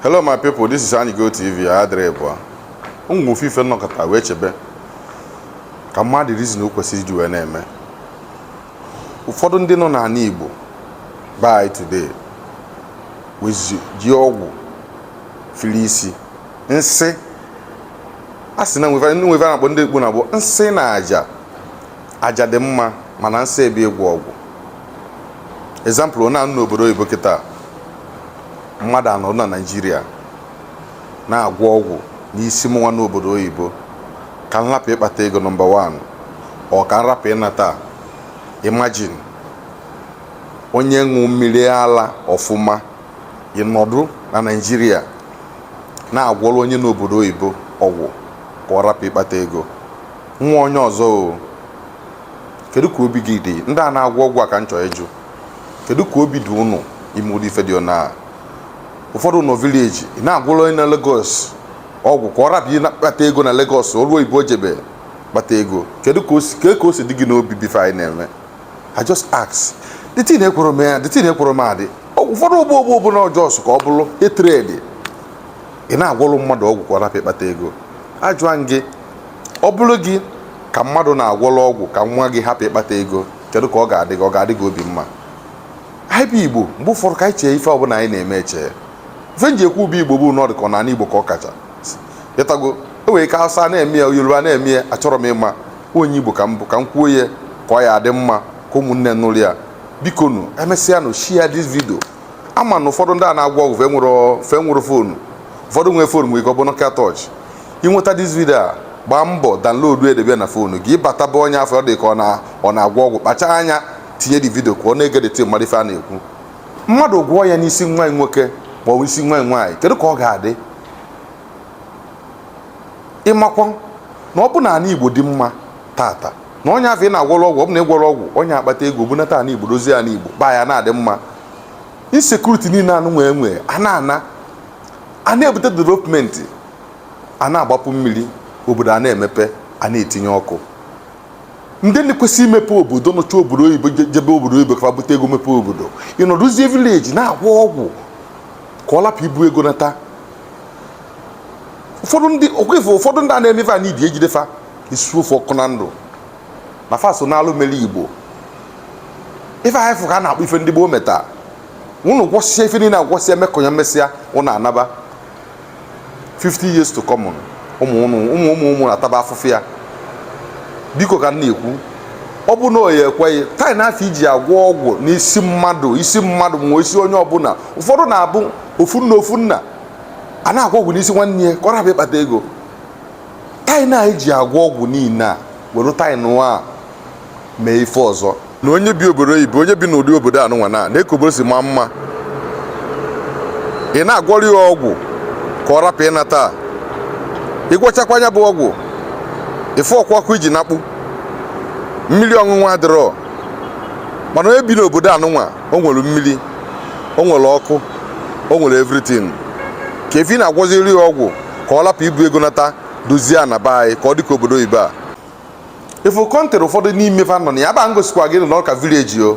Hello my people, this is Anyi Go TV adịrị bụa nwee ofu ife m nọkata wee chebe ka m ma the reason o kwesịrị iji wee na-eme ụfọdụ ndị nọ n'ala Igbo by today wezi ji ọgwụ fili isi nsị a sị na nwee ife a na-akpọ ndị Igbo na-abụ nsị na aja aja dị mma mana nsị bụ ịgwọ ọgwụ example onye anọ n'obodo oyibo kịta mmadụ anọdụ na naijiria na-agwọ ọgwụ n'isi mụnwa n'obodo oyibo ka m hapụ ịkpata ego number 1 or ka m rapụ ịnata imagine onye ṅụ mmiri ala ọfụma ị nọdụ na naijiria na-agwọrọ onye n'obodo oyibo ọgwụ ka ọ rapụ ịkpata ego nwa onye ọzọ o kedu ka obi gị dị ndị a na-agwọ ọgwụ a ka m chọọ ịjụ kedu ka obi dị unu ime ụdị ife dị na ụfọdụ nọ village ị na-agwọrọ onye nọ Lagos ọgwụ ka ọ rapụ ịkpata ego na Lagos obodo oyibo jebe kpata ego kedu ka o si dị gị n'obi bụ ife anyị na-eme I just ask the thing ekworo m ya the thing ekworo m adị ụfọdụ ụgbọ ụgbọ ụbụla ọjọọ sụ ka ọ bụrụ etredi ị na-agwọrọ mmadụ ọgwụ ka ọ rapụ ịkpata ego a jụọ gị ọ bụrụ gị ka mmadụ na-agwọrọ ọgwụ ka nwa gị hapụ ịkpata ego kedu ka ọ ga-adị gị ọ ga-adị gị obi mma anyị bụ igbo mgbe ụfọdụ ka anyị chee ife ọbụla anyị na-eme eche ife m ji ekwu bụ igbo bụ na ọ dị ka ọ na igbo ka ọ kacha ịtago e nwere ike hausa na-eme ya yoruba na-eme ya achọrọ m ịma onye igbo ka m bụ ka m kwuo ya ka ọ ya adị mma ka ụmụnne nụrụ ya biko nụ e mesịa nụ share this video ama m na ụfọdụ ndị a na-agwọ ọgwụ fa nwere phone ụfọdụ nwere phone nwere ike ọ bụ Nokia torch i nweta this video a gbaa mbọ download debe na phone gị ị bata be onye afụ dị ka ọ na-agwọ ọgwụ kpacha anya tinye the video ka ọ na-egede ntị mara ife a na-ekwu mmadụ gwọọ ya n'isi nwa nwoke ma ọ bụ isi nwa nwaanyị kedu ka ọ ga-adị ị makwa na ọ bụ na ala igbo dị mma tata na onye afụ ị na-agwọrọ ọgwụ ọ bụ na ị gwọrọ ọgwụ onye akpata ego bunata ala igbo dozie ala igbo be anyị na-adị mma insecurity niile anụ nwee nwee a na-ana a na-ebute development a na-agbapụ mmiri obodo a na-emepe a na-etinye ọkụ ndị na-ekwesị imepe obodo nọcha obodo oyibo jebe obodo oyibo ka bute ego mepe obodo ị nọdụzie village na-agwọ ọgwụ ka ọ lapụ ibu ego nata ụfọdụ ndị okwefe ụfọdụ ndị a na-eme ife a n'ibi e jide fa e suo fa ọkụ na ndụ na fa so na alụ mere igbo ife anyị fụ ka a na-akpọ ife ndị gboo meta unu gwọsịa ife niile agwọsịa mekọnya e mesịa unu anaba 50 years to come ụmụ ụmụ ụmụ ụmụ ụmụ na-ataba afụfụ ya biko ka m na-ekwu ọ bụ na onye ekweghị time na afọ iji agwọ ọgwụ n'isi mmadụ isi mmadụ ma isi onye ọbụla ụfọdụ na-abụ ofu nna ofu nna a na-agwọ ọgwụ n'isi nwanne ya ka ọ rapụ ịkpata ego time na anyị ji agwọ ọgwụ niile a were time nụnwa mee ife ọzọ na onye bi obodo oyibo onye bi n'ụdị obodo anụnwa nee ka obodo si maa mma ị na-agwọrọ ya ọgwụ ka ọ rapụ ịnata ị gwọchakwa nya bụ ọgwụ ife ọkwakwa iji nakpụ mmiri ọṅụṅụ adịrọ mana onye bi n'obodo anụnwa o nwere mmiri o nwere ọkụ o nwere everything kee ife ị na-agwọziri ya ọgwụ ka ọ lapụ ibu ego nata dozie ana be anyị ka ọ dị ka obodo oyibo a ị fụ country ụfọdụ n'ime fa nọ na ya ba m gosikwa gị na ọ ka village o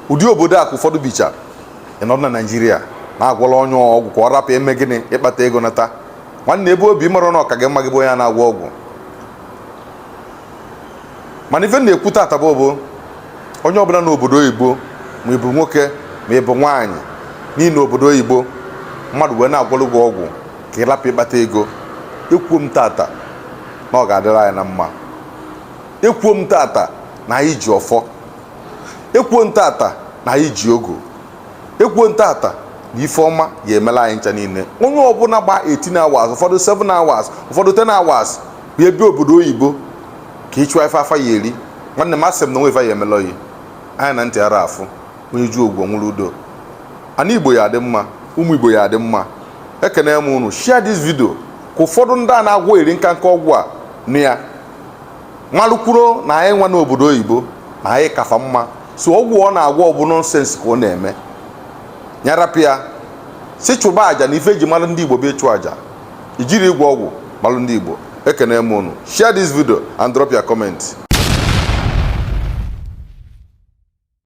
ụdị obodo a ka ụfọdụ bicha ị nọ na naijiria na-agwọla onye ọgwụ ka ọ rapụ ime gịnị ịkpata ego nata nwanne ebe o bi mara na ọ ka gị mma gị bụ onye na-agwọ ọgwụ mana ife m na-ekwu tata bụ bụ onye ọbụla n'obodo oyibo ma ị bụ nwoke ma ị bụ nwaanyị na ị nọ obodo oyibo mmadụ wee na-agwọlụ gị ọgwụ ka ị rapụ ịkpata ego ekwuo m tata na ọ ga-adịrị anyị na mma ekwuo m tata na anyị ji ọfọ ekwuo m tata na anyị ji ogu ekwuo m tata na ife ọma ga-emelụ anyị ncha niile onye ọbụla gba 18 hours ụfọdụ 7 hours ụfọdụ 10 hours bịa ebe obodo oyibo ka ị chọwa ife afọ ya-eri nwanne m asị m na o nwee ife ya-emelụ gị anya na ntị ara afụ onye ju ogbo nwụrụ udo ana igbo ya-adị mma ụmụ igbo ya-adị mma ekene m unu share this video ka ụfọdụ ndị a na-agwọ eri nka nka ọgwụ a nụ ya malụkwuro na anyị nwa n'obodo oyibo na anyị ka fa mma so ọgwụ ọ na-agwọ ọ bụ nonsense ka ọ na-eme nya rapụ ya si chụba aja na ife e ji malụ ndị igbo bụ ịchụ aja e jirọ ịgwọ ọgwụ malụ ndị igbo ekene m unu share this video and drop your comment